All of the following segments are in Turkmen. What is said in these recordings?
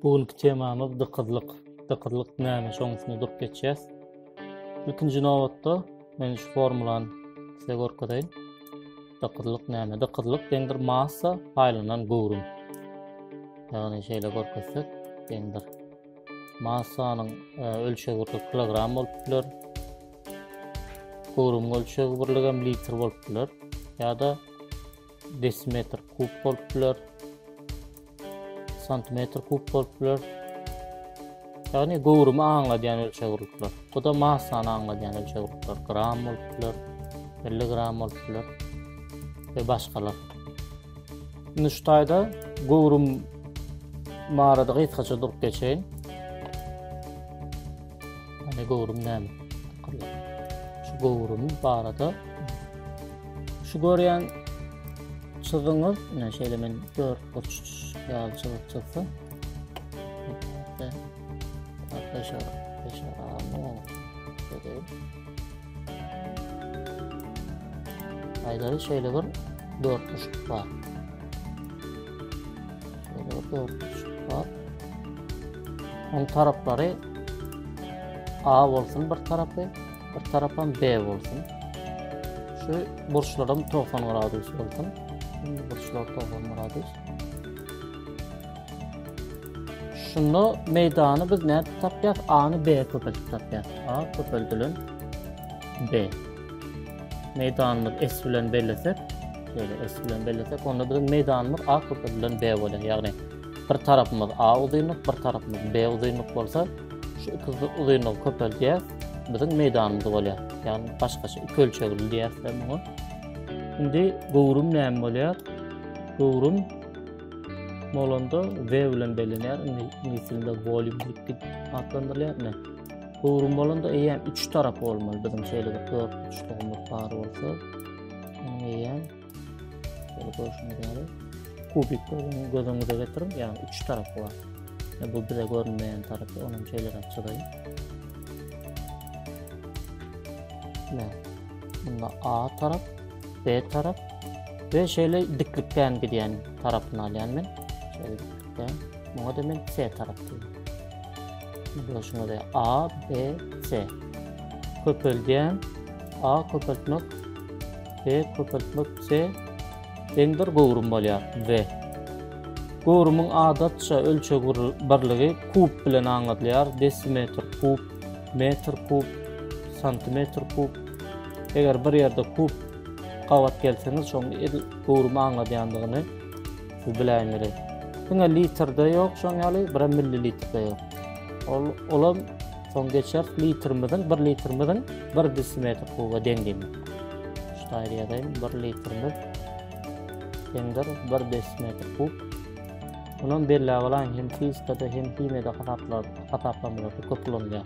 Bu günki temamyz dykyzlyk. Dykyzlyk näme? Şoň üstünde durup geçýäs. Ilkinji nobatda men şu formulany size görkezeýin. Dykyzlyk näme? Dykyzlyk deňdir massa aýlanan göwrüm. Ýagny şeýle görkezsek, deňdir. Massanyň e, ölçeg birligi kilogram bolupdyr. Göwrümiň ölçeg birligi hem litr bolupdyr. Ýa-da desimetr kub bolupdyr. Santimetr kub bolupdyr. Ýagny göwrümi aňladýan ölçeg birlikler. Bu da massany aňladýan ölçeg birlikler. Gram bolupdyr, milligram bolupdyr we başgalar. Nuştaýda göwrüm barada gysgaça durup geçeýin. Ýani göwrüm näme? Şu göwrüm barada şu görýän çyzygyňyz, ine şeýle men dört burç ýaly çyzyk çyzsam. Hatta, hatta şeýle, şeýle, Aýlary şeýle bir dörtmüşlik bar. Şeýle bir dörtmüşlik bar. Onuň taraplary A bolsun bir tarapy, bir tarapam B bolsun. Şu burçlarym 90 gradus bolsun. Şimdi burçlar 90 gradus. Şunda meýdany biz nädip tapýas? A-ny B köpeldip tapýas. A köpeldilen B. Meýdanymyz S bilen bellesek, şeýle S bilen bellesek, onda biziň meýdanymyz A köpeldilen B bolýar. Ýagny bir tarapymyz A uzynlyk, bir tarapymyz B uzynlyk bolsa, şu iki uzynlygy köpeldýär, biziň meýdanymyz bolýar. Ýagny başgaça iki ölçegli diýýäs biz muňa. Indi göwrüm näme bolýar? Göwrüm bolanda V bilen bellenýär. Iňlis dilinde volume diýip git atlandyrylýar. Ine. Gowrum bolanda eýýäm 3 tarap bolmaly. Biziň şeýle bir 4 uçdugymyz bar bolsa, onuň eýýäm şeýle görşüňiz ýaly kubik görüň, göz öňüňize getiriň, ýagny 3 tarap bar. Ine bu bize görünmeýän tarapy, ony hem şeýle çyzaýyn. Ine. Bunda A tarap, B tarap ve şöyle diklikten gidýän tarapyny alýan men. Şöyle diklikten. Muňa da men C tarap diýýän. Görüşüňiz A, B, C. Köpeldýän. A köpeltmek. B köpeltmek. C. Deňdir göwrüm bolýar. V. Göwrümiň adatça ölçeg birligi kub bilen aňladylýar. Desimetr kub, metr kub, santimetr kub, Eger bir ýerde kup gabat gelseňiz şoň edil göwrümi aňladýandygyny siz biläýmeli. Diňe litrde ýok şoň ýaly bir millilitrde ýok. Ol olam soň geçer litrimiziň bir litrimiziň bir desimetr kuba deň diýmek. Ştaýr ýazaýyn bir litrimiz deňdir bir desimetr kub. Onam belläp alaýyn hem fizikada hem himiýada hasaplar hasaplamada köp ulanýar.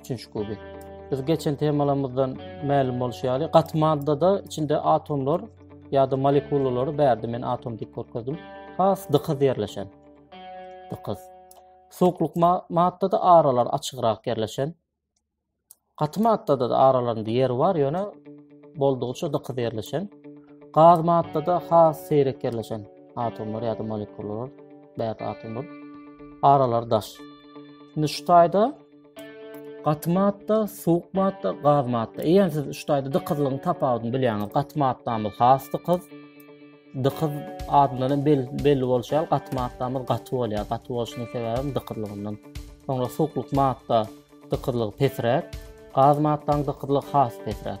üçünji kuby. Biz geçen temalarymyzdan mälim bolşy ýaly, gaty maddada içinde atomlar ýa-da molekulalary bärde men atom diýip görkezdim. Has dykyz ýerleşen. Dykyz. Suwuklyk maddada aralar açygrak ýerleşen. Gaty maddada da aralarynda ýer bar, ýöne boldugyça dykyz ýerleşen. Gaz maddada has seýrek ýerleşen atomlar ýa-da molekulalar, bärde atomlar. Aralar daş. Indi şu taýda Gaty madda, suwuk madda, gaz madda. Eýer siz üç taýda dykyzlygyň tapawudyny bilýäňiz. Gaty maddamyz has dykyz. Dykyz adyndan hem belli bolşy ýaly gaty maddamyz gaty bolýar. Gaty bolşunyň sebäbi dykyzlygyndan. Soňra suwuklyk madda dykyzlygy pesräk, gaz maddanyň dykyzlygy has pesräk.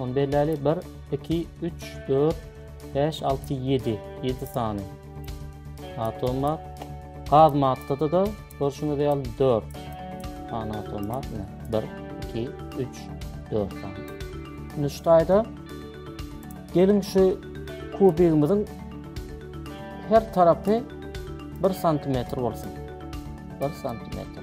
Ony belläli, bir, iki, üç, dört, bäş, alty, ýedi. Ýedi sany. Atom bar. Gaz maddada da, görşüňiz ýaly, dört. Sany atom bar. Bir, iki, üç, dört sany. Şimdi şu taýda, gelin şu kubigimizin her tarapy bir santimetr olsun. Bir santimetr.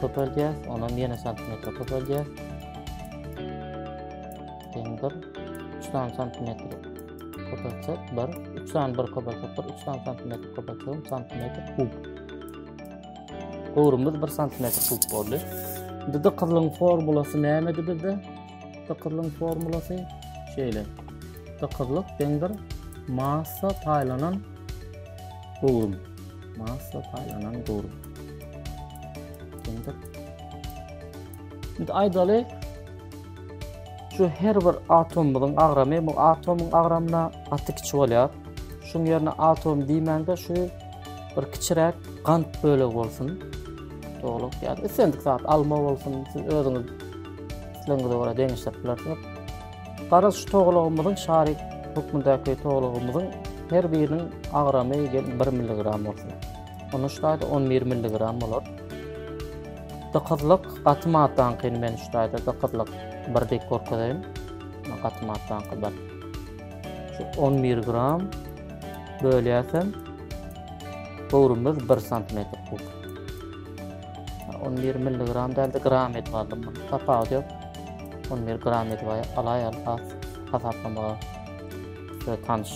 Köpeldýär, onam ýene santimetr köpeldýär. Deň bir, üç sany santimetr köpeltsek, bir, üç sany bir köpeltsek, bir, üç sany santimetr köpeltsek, santimetr kub. Gowrumyz bir santimetr kub boldy. Indi dykyzlyň formulasy nämedi bizde? Dykyzlyň formulasy şeýle. Dykyzlyk deňdir massa paýlanan gowrum. Masla paýlanan dur. Şimdi Şimdi aydaly şu her bir atomumyzyň agramy, bu atomyň agramyna gaty kiçi bolýar. Şuň ýerine atom diýmäňde şu bir kiçiräk gant bölegi bolsun. Doluk ýa islendik zat alma bolsun, siz özüňiz islegiňize görä deňeşdirip bilersiňiz. Garaz şu togalagymyzyň şary hökmündäki togalagymyzyň her biriniň agramy gelin bir milligram bolsun. Onda şu taýda on bir milligram bolar. Dykyzlyk gaty maddaňkyny men şu taýda dykyzlyk bir dek görkezeýin. Gaty maddaňky bir. Şu on bir gram bölýäsem göwrümimiz bir santimetr kub. On bir milligram dälde gram edip aldym bunu. Tapawudy yok. On bir gram edip alay al has hasaplamaga ve tanış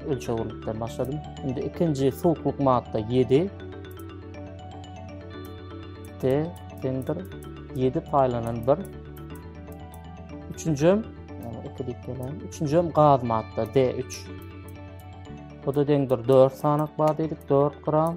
ölçewilikden başladım. Şimdi ikinci soğukluk madda 7. D dendir 7 paylanan 1. Üçüncü iki deyip gelen. Üçüncü gaz madda D3. O da dendir 4 sanak var dedik 4 gram.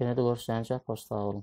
Ýene-de görüşýänçäk, hoş sag boluň.